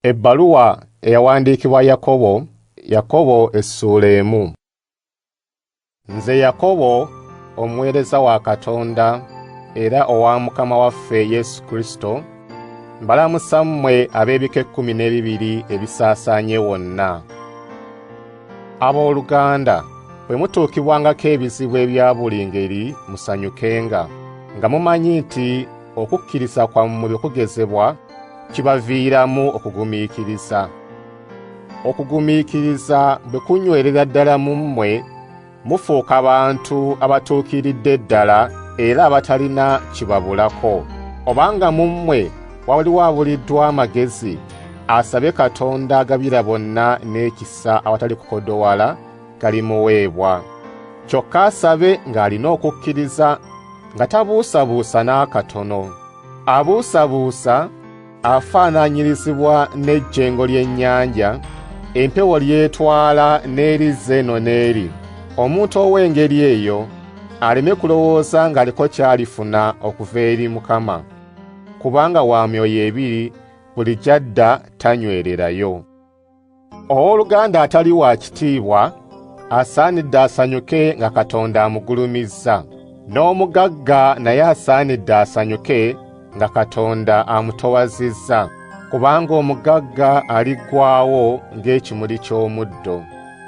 Ebbaluwa eyawandiikibwa Yakobo, Yakobo essuula emu. Nze Yakobo omuweereza wa Katonda era owa Mukama waffe Yesu Kristo, mbalamusa mmwe ab'ebika ekkumi n'ebibiri ebisaasaanye wonna. Abooluganda, bwe mutuukibwangako ebizibu ebya buli ngeri musanyukenga, nga mumanyi nti Okukkiriza kwammwe bwe kugezebwa, kibaviiramu okugumiikiriza. Okugumiikiriza bwe kunywerera ddala mu mmwe, mufuuka bantu abatuukiridde ddala era abatalina kibabulako. Obanga mu mmwe waliwo abuliddwa amagezi, asabe Katonda agabira bonna n'ekisa awatali kukodowala, galimuweebwa. Kyokka asabe ng'alina okukkiriza nga tabuusabuusa n'akatono. Abuusabuusa afaananyirizibwa n'ejjengo ly'ennyanja, empewo ly'etwala n'erizza eno n'eri. Omuntu ow'engeri eyo aleme kulowooza ng'aliko ky'alifuna okuva eri Mukama, kubanga wa myoyo ebiri buli gy'adda tanywererayo. Ow'oluganda atali wa kitiibwa asaanidde asanyuke nga Katonda amugulumizza, n'omugagga naye asaanidde asanyuke nga Katonda amutowazizza, kubanga omugagga aliggwaawo ng'ekimuli ky'omuddo,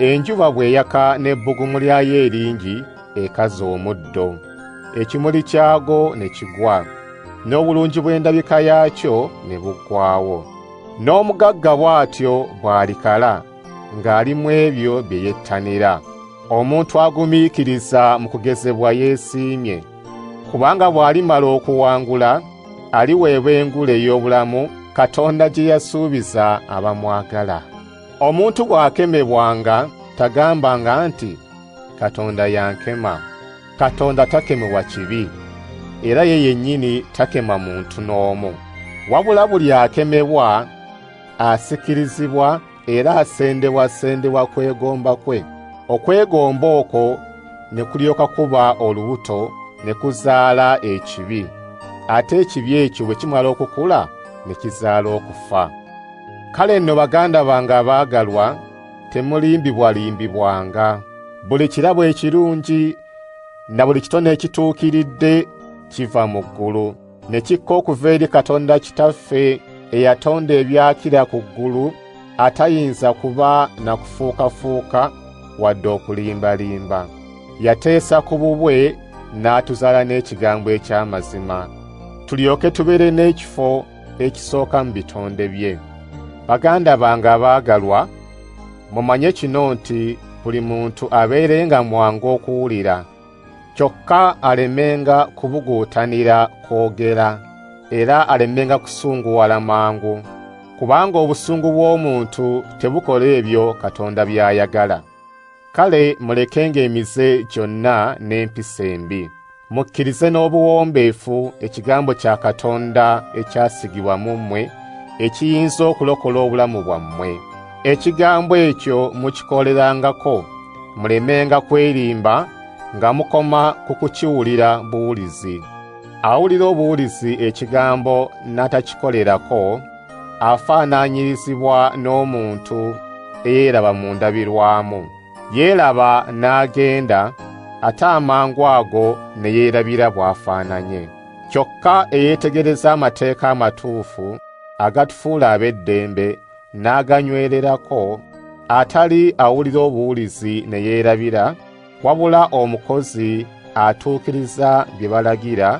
enjuba bw'eyaka n'ebbugumu lyayo eringi ekaza omuddo, ekimuli kyagwo ne kigwa, n'obulungi bw'endabika yaakyo ne buggwaawo. N'omugagga bw'atyo bw'alikala ng'ali mu ebyo bye yettanira. Omuntu agumiikiriza mu kugezebwa yeesiimye, kubanga bw'alimala okuwangula aliweebwa engule ey'obulamu Katonda gye yasuubiza abamwagala. Omuntu bw'akemebwanga tagambanga nti, Katonda yankema. Katonda takemebwa kibi, era ye yennyini takema muntu n'omu. Wabula buli akemebwa asikirizibwa era asendebwasendebwa kwegomba kwe, okwegomba okwo ne kulyoka kuba olubuto ne kuzaala ekibi, ate ekibi ekyo bwe kimala okukula ne kizaala okufa. Kale nno baganda bange abaagalwa, Temulimbibwalimbibwanga. Buli kirabo ekirungi na buli kitone ekituukiridde kiva mu ggulu, ne kikka okuva eri Katonda Kitaffe eyatonda ebyakira ku ggulu, atayinza kuba na kufuukafuuka wadde okulimbalimba. Yateesa ku bubwe n'atuzaala n'ekigambo eky'amazima, tulyoke tubeere n'ekifo ekisooka mu bitonde bye. Baganda bange abaagalwa, mumanye kino nti buli muntu abeerenga mwangu okuwulira, kyokka alemenga kubuguutanira kwogera, era alemenga kusunguwala mangu, kubanga obusungu bw'omuntu tebukola ebyo Katonda by'ayagala. Kale mulekenga emize gyonna n'empisa embi. Mukkirize n'obuwombeefu ekigambo kya Katonda ekyasigibwa mu mmwe ekiyinza okulokola obulamu bwammwe. Ekigambo ekyo mukikolerangako mulemenga kwerimba nga mukoma ku kukiwulira buwulizi. Awulira obuwulizi ekigambo n'atakikolerako afaananyirizibwa n'omuntu eyeraba mu ndabirwamu yeeraba n'agenda ate amangu ago ne yeerabira bw'afaananye kyokka eyeetegereza amateeka amatuufu agatufuula ab'eddembe n'aganywererako atali awulira obuwulizi ne yeerabira wabula omukozi atuukiriza bye balagira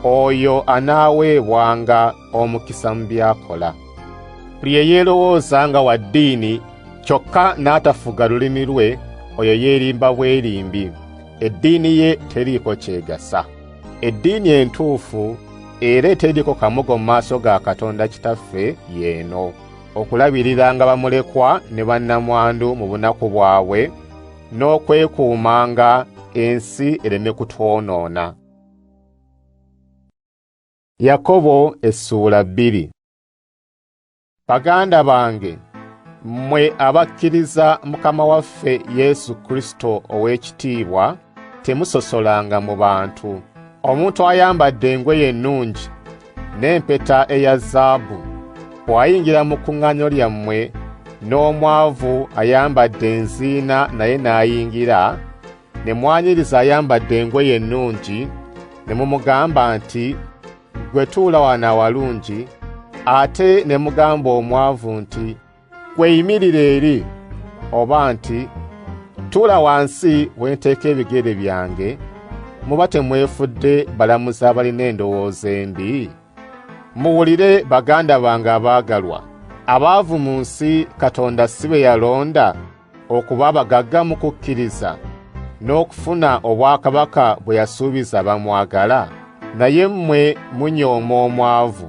oyo anaaweebwanga omukisa mu by'akola buli eyeerowooza nga wa ddiini kyokka n'atafuga lulimi lwe oyo yeerimba bwerimbi eddiini ye teriiko kyegasa eddiini entuufu era eteriiko kamogo mu maaso ga katonda kitaffe yeeno okulabiriranga bamulekwa ne bannamwandu mu bunaku bwabwe n'okwekuumanga ensi ereme kutwonoona. Yakobo essuula bbiri Baganda bange mwe abakkiriza Mukama waffe Yesu Kristo ow'ekitiibwa temusosolanga mu bantu. Omuntu ayambadde engoye ennungi n'empeta eya zaabu, bw'ayingira mu kuŋŋaanyo lyammwe, n'omwavu ayambadde enziina naye n'ayingira, ne mwanyiriza ayambadde engoye ennungi, ne mumugamba nti, Ggwe tuula wano awalungi, ate ne mugamba omwavu nti, Kweyimirire eri oba nti tula wansi wenteeka ebigere byange muba temwefudde balamuzi abalina endowooza embi muwulire baganda bange abaagalwa abaavu mu nsi katonda si be yalonda okuba abagagga mu kukkiriza n'okufuna obwakabaka bwe yasuubiza bamwagala naye mmwe munyooma omwavu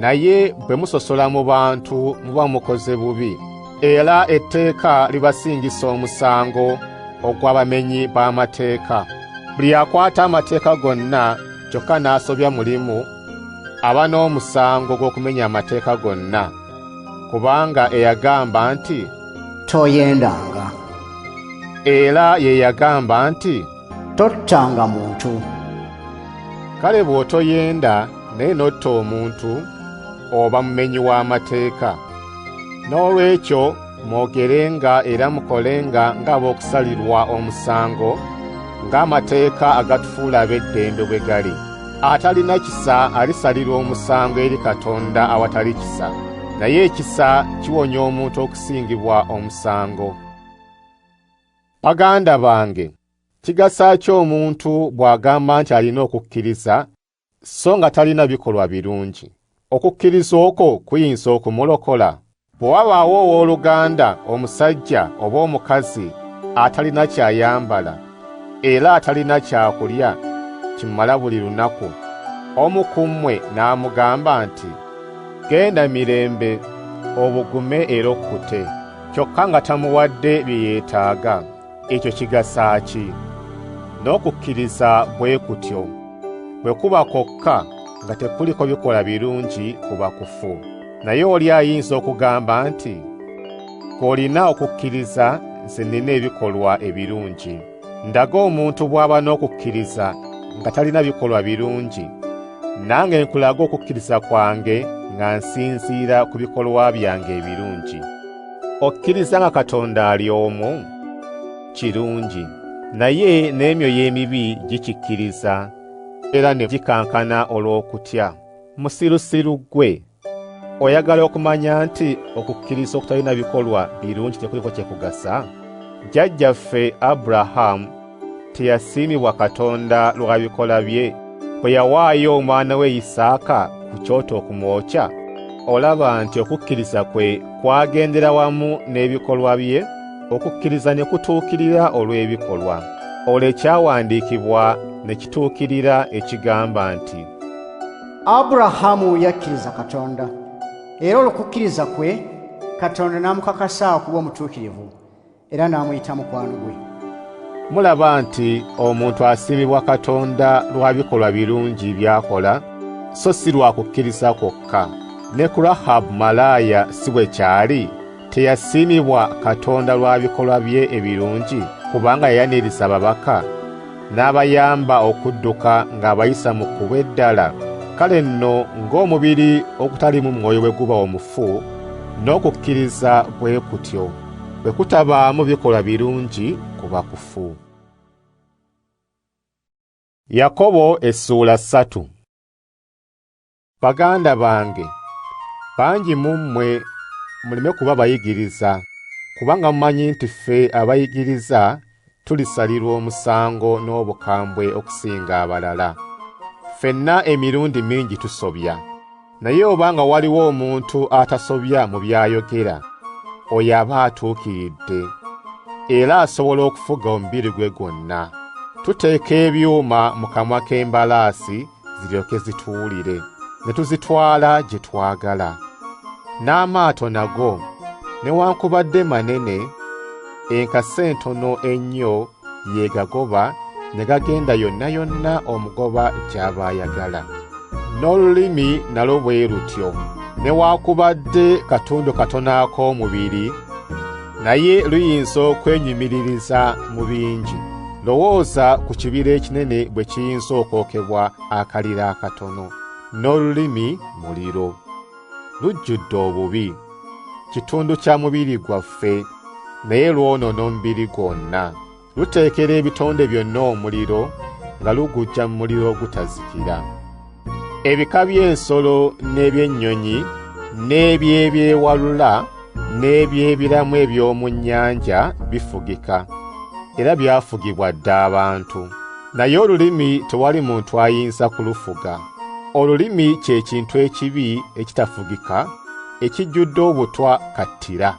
naye bwe musosola mu bantu muba mukoze bubi era etteeka libasingisa omusango ogw'abamenyi b'amateeka buli akwata amateeka gonna kyokka n'asobya mulimu aba n'omusango gw'okumenya amateeka gonna kubanga eyagamba nti toyendanga era ye yagamba nti tottanga muntu kale bw'otoyenda naye n'otta omuntu oba mumenyi w'amateeka n'olwekyo mwogerenga era mukolenga ng'ab'okusalirwa omusango ng'amateeka agatufuula ab'eddembe bwe gali atalina kisa alisalirwa omusango eri katonda awatali kisa naye ekisa kiwonya omuntu okusingibwa omusango Baganda bange, kigasa ki omuntu bw'agamba nti alina okukkiriza so nga talina bikolwa birungi? Okukkiriza okwo kuyinza okumulokola? Bwe wabaawo ow'oluganda omusajja oba omukazi atalina ky'ayambala era atalina kyakulya kimala buli lunaku, omu ku mmwe n'amugamba nti, Genda mirembe, obugume era okkute. kyokka nga tamuwadde bye yeetaaga, ekyo kigasa ki? N'okukkiriza bwe kutyo bwe kuba kwokka nga tekuliko bikola birungi kuba kufu. Naye oli ayinza okugamba nti, K'olina okukkiriza nze nnina ebikolwa ebirungi. Ndaga omuntu bw'aba n'okukkiriza nga talina bikolwa birungi, nange nkulaga okukkiriza kwange nga nsinziira ku bikolwa byange ebirungi. Okkiriza nga Katonda ali omu? Kirungi. Naye n'emyoyo emibi gikikkiriza era ne gikankana olw'okutya. Musirusiru ggwe! oyagala okumanya nti okukkiriza okutalina bikolwa birungi tekuliko kye kugasa jjajjaffe aburahamu teyasiimibwa katonda lwa bikola bye bwe yawaayo omwana we yisaaka ku kyoto okumwokya olaba nti okukkiriza kwe kwagendera wamu n'ebikolwa bye okukkiriza ne kutuukirira olw'ebikolwa olwo ekyawandiikibwa ne kituukirira ekigamba nti aburahamu yakkiriza katonda era olwokukkiriza kwe katonda n'amukakasa okuba omutuukirivu era n'amuyita mukwano gwe mulaba nti omuntu asiimibwa katonda lwa bikolwa birungi by'akola so si lwa kukkiriza kwokka ne ku rahabu malaaya si bwe kyali Teyasiimibwa Katonda lwa bikolwa bye ebirungi kubanga yayaniriza ababaka n'abayamba okudduka ng'abayisa mu kkubo eddala? Kale nno ng'omubiri ogutalimu mwoyo bwe guba omufu, n'okukkiriza bwe kutyo bwe kutabaamu bikolwa birungi kuba kufu. Yakobo essuula ssatu. Baganda bange, bangi mu mmwe muleme kuba bayigiriza, kubanga mumanyi nti ffe abayigiriza tulisalirwa omusango n'obukambwe okusinga abalala. Ffenna emirundi mingi tusobya, naye oba nga waliwo omuntu atasobya mu by'ayogera, oyo aba atuukiridde, era asobola okufuga omubiri gwe gwonna. Tuteeka ebyuma mu kamwa k'embalaasi, ziryoke zituwulire ne tuzitwala gye twagala n'amaato nago newankubadde manene enkasi entono ennyo yeegagoba ne gagenda yonna yonna omugoba gy'aba ayagala n'olulimi nalwo bwe lutyo newaakubadde katundu katono ak'omubiri naye luyinza okwenyumiririza mu bingi lowooza ku kibira ekinene bwe kiyinza okwokebwa akaliro akatono n'olulimi muliro lujjudde obubi kitundu kya mubiri gwaffe naye lwonoona omubiri gwonna Luteekera ebitonde byonna omuliro nga lugujja mu muliro ogutazikira. Ebika by'ensolo n'eby'ennyonyi n'eby'ebyewalula n'eby'ebiramu eby'omu nnyanja bifugika, era byafugibwa dda abantu. Naye olulimi tewali muntu ayinza kulufuga. Olulimi kye kintu ekibi ekitafugika ekijjudde obutwa kattira.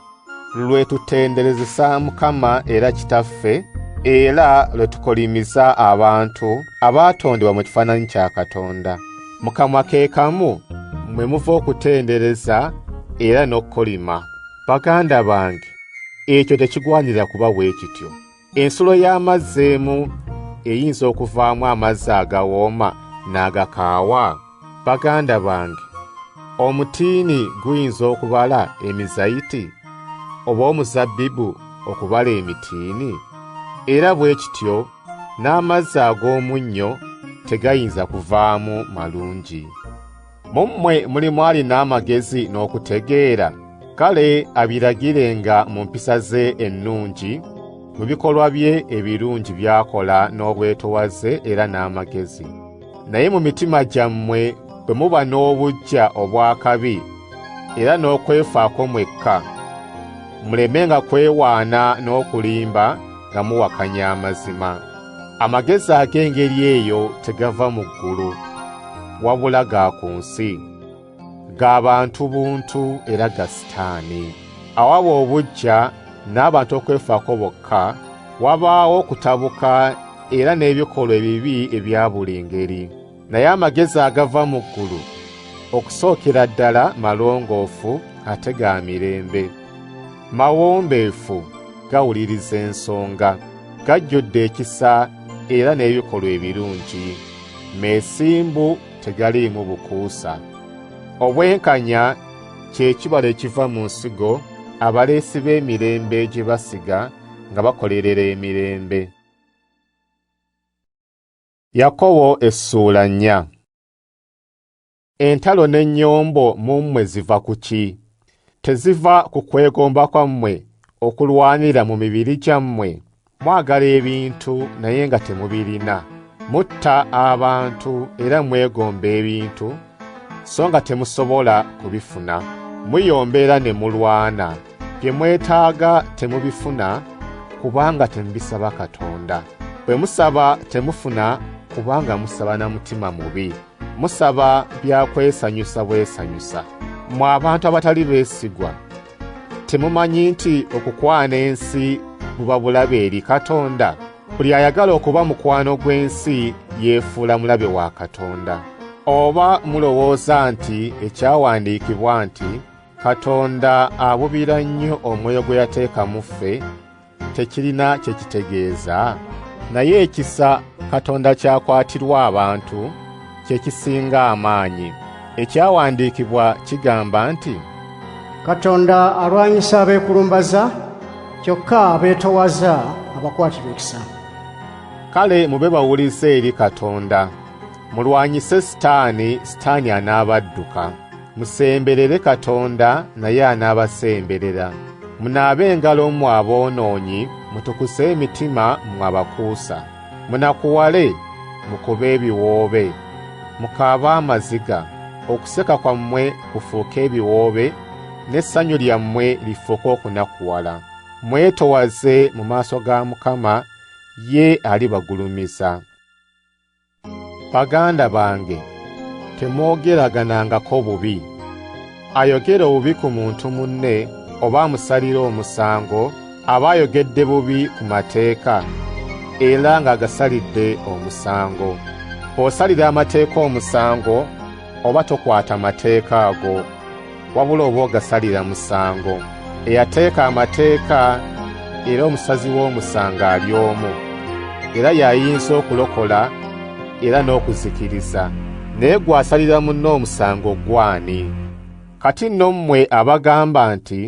lwe tutenderezesa Mukama era Kitaffe, era lwe tukolimiza abantu abaatondebwa mu kifaananyi kya Katonda. Mu kamwa ke kamu mwe muva okutendereza era n'okukolima. Baganda bange, ekyo tekigwanira kuba bwe kityo. Ensulo y'amazzi emu eyinza okuvaamu amazzi agawooma n'agakaawa? Baganda bange, omutiini guyinza okubala emizayiti, oba omuzabbibu okubala emitiini? Era bwe kityo n'amazzi ag'omunnyo tegayinza kuvaamu malungi. mu mmwe mulimu alina amagezi n'okutegeera kale abiragirenga mu mpisa ze ennungi mu bikolwa bye ebirungi by'akola n'obwetowaze era n'amagezi naye mu mitima gyammwe bwe muba n'obuggya obw'akabi era n'okwefaako mwekka mulemenga kwewaana n'okulimba nga muwakanya amazima Amagezi ag'engeri eyo tegava mu ggulu, wabula ga ku nsi, ga bantu buntu era ga sitaani. Awaba obujja n'abantu okwefaako bokka, wabaawo okutabuka era n'ebikolwa ebibi ebya buli ngeri. naye amagezi agava mu ggulu okusookera ddala malongoofu ate ga mirembe mawombeefu gawuliriza ensonga gajjudde ekisa era n'ebikolwa ebirungi meesimbu tegaliimu bukuusa obwenkanya kye kibala ekiva mu nsigo abaleesi b'emirembe gye basiga nga bakolerera emirembe Yakobo essuula nnya. Entalo n'ennyombo mu mmwe ziva ku ki? Teziva ku kwegomba kwammwe okulwanira mu mibiri gyammwe? Mwagala ebintu naye nga temubirina. Mutta abantu era mwegomba ebintu so nga temusobola kubifuna. Muyombera ne mulwana. Bye mwetaaga temubifuna kubanga temubisaba Katonda. Bwe musaba temufuna kubanga musaba na mutima mubi. Musaba bya kwesanyusa bwesanyusa. Mwe abantu abatali beesigwa, temumanyi nti okukwana ensi buba bulabe eri Katonda? Buli ayagala okuba mukwano gw'ensi yeefuula mulabe wa Katonda. Oba mulowooza nti ekyawandiikibwa nti Katonda abubira nnyo omwoyo gwe yateeka mu ffe tekirina kye kitegeeza naye ekisa Katonda kyakwatirwa abantu kye kisinga amaanyi ekyawandiikibwa kigamba nti Katonda alwanyisa abeekulumbaza kyokka abeetowaza abakwatirwa ekisa kale mube bawulize eri Katonda mulwanyise sitaani sitaani anaabadduka Musemberere Katonda naye anaabasemberera. Munaabe engalo mmwe aboonoonyi, mutukuse emitima mmwe abakuusa. Munakuwale, mukube ebiwoobe, mukaabe amaziga, okuseka kwammwe kufuuke ebiwoobe, n'essanyu lyammwe lifuuke okunakuwala. Mwetowaze mu maaso ga Mukama, ye alibagulumiza. Baganda bange, temwogeraganangako bubi. Ayogera obubi ku muntu munne oba amusalira omusango aba ayogedde bubi ku mateeka era ng'agasalidde omusango. Osalira amateeka omusango oba tokwata mateeka ago, wabula oba ogasalira musango. Eyateeka amateeka era omusazi w'omusango ali omu, era y'ayinza okulokola era n'okuzikiriza. Naye gw'asalira munne omusango gw'ani? Kati nno mmwe abagamba nti,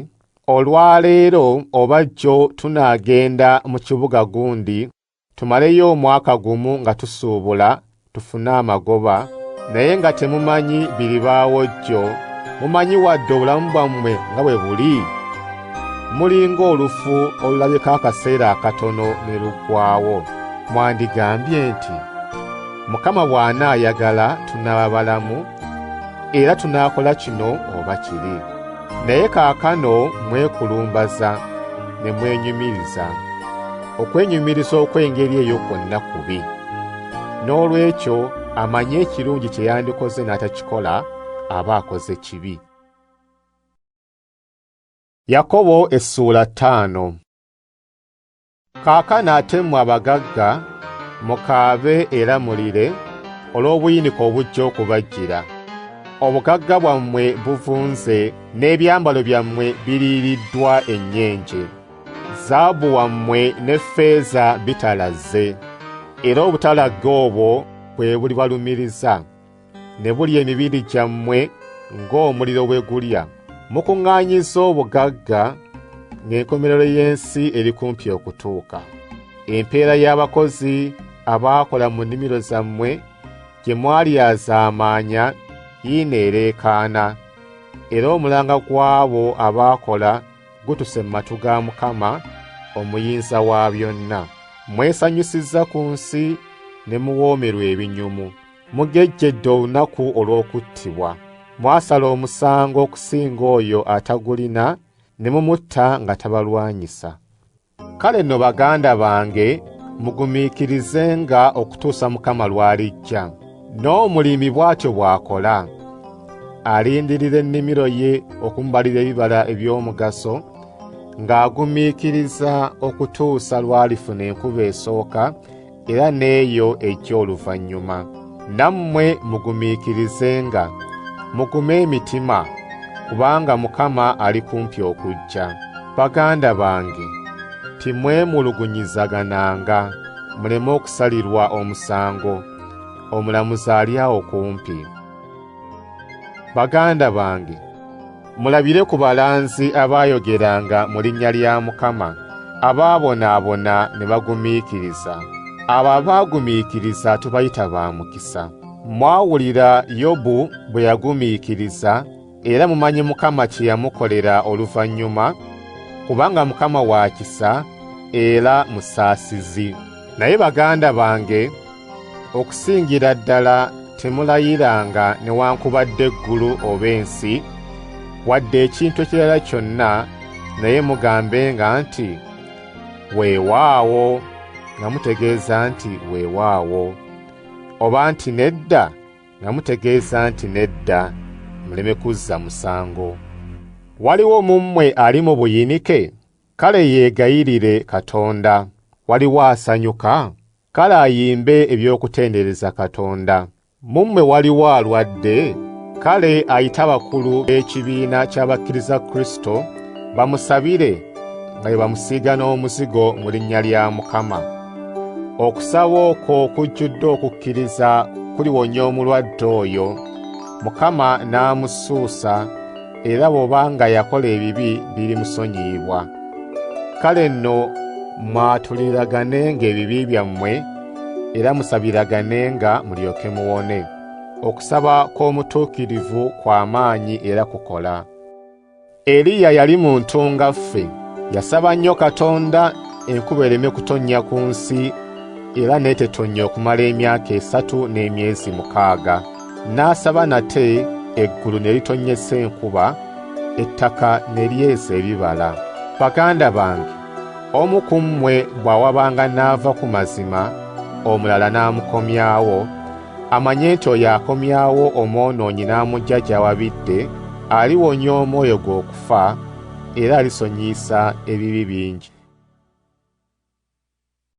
Olwaleero oba jjo tunaagenda mu kibuga gundi Tumaleyo omwaka gumu nga tusuubula tufune amagoba naye nga temumanyi biribaawo jjo mumanyi wadde obulamu bwammwe nga bwe buli mulinga olufu olulabika akaseera akatono ne luggwawo mwandigambye nti mukama bw'anaayagala tunaaba balamu era tunaakola kino oba kiri naye kaakano mwekulumbaza ne mwenyumiriza Okwenyumiriza okw'engeri eyo kwonna kubi. N'olwekyo amanyi ekirungi kye yandikoze n'atakikola aba akoze kibi. Yakobo essuula ttaano. Kaakano ate mmwe abagagga mukaabe era mulire olw'obuyinike obujja okubajjira. Obugagga bwammwe buvunze n'ebyambalo byammwe biriiriddwa ennyenje. Zaabu wammwe ne ffeeza bitalazze, era obutalagge obwo bwe bulibalumiriza, ne bulya emibiri gyammwe ng'omuliro bwe gulya. Mukuŋŋaanyizza obugagga, ng'enkomerero y'ensi eri kumpi okutuuka. Empeera y'abakozi abaakola mu nnimiro zammwe gye mwalyazaamaanya yiino ereekaana, era omulanga gw'abo abaakola gutuse mu matu ga Mukama omuyinza wa byonna. Mwesanyusizza ku nsi ne muwoomerwa ebinyumu. Mugejjedde olunaku olw'okuttibwa. Mwasala omusango okusinga oyo atagulina ne mumutta nga tabalwanyisa. Kale no baganda bange mugumiikirizenga okutuusa Mukama lw'alijja. N'omulimi bw'atyo bw'akola, alindirira ennimiro ye okumubalira ebibala eby'omugaso, ng'agumiikiriza okutuusa lw'alifuna enkuba esooka, era n'eyo eky'oluvannyuma. Nammwe mugumiikirizenga, mugume emitima, kubanga Mukama ali kumpi okujja. Baganda bange, timwemulugunyizagananga, muleme okusalirwa omusango, omulamuzi ali awo kumpi. Baganda bange, Mulabire ku balanzi abaayogeranga mu linnya lya Mukama, abaabonaabona ne bagumiikiriza. Abo abaagumiikiriza tubayita ba mukisa. Mwawulira Yobu bwe yagumiikiriza, era mumanyi Mukama kye yamukolera oluvannyuma, kubanga Mukama wa kisa era musaasizi. Naye baganda bange, Okusingira ddala temulayiranga newankubadde eggulu oba ensi, wadde ekintu ekirala kyonna, naye mugambenga nti, Weewaawo, nga mutegeeza nti weewaawo, oba nti nedda, nga mutegeeza nti nedda, muleme kuzza musango. Waliwo mu mmwe ali mu buyinike? Kale yeegayirire Katonda. Waliwo asanyuka? Kale ayimbe eby'okutendereza Katonda. Mu mmwe waliwo alwadde? Kale ayite abakulu b'ekibiina ky'abakkiriza Kristo bamusabire nga bwe bamusiiga n'omuzigo mu linnya lya Mukama. Okusaba okwo kujjudde okukkiriza kuliwonya omulwadde oyo, Mukama n'amusuusa era bw'oba nga yakola ebibi birimusonyiyibwa. Kale nno mwatuliraganenga ebibi byammwe, era musabiraganenga mulyoke muwone. Okusaba kw'omutuukirivu kwa maanyi era kukola. Eliya yali muntu nga ffe, yasaba nnyo Katonda enkuba ereme kutonnya ku nsi era n'etetonnya okumala emyaka esatu n'emyezi mukaaga. N'asaba nate eggulu ne litonnyesa enkuba, ettaka ne lyeza ebibala. Baganda bange, omu ku mmwe bw'awabanga n'ava ku mazima, omulala n'amukomyawo, amanye nti oyo akomyawo omwonoonyi n'amuggya gy'awabidde, aliwonya omwoyo gwe okufa, era alisonyiyisa ebibi bingi.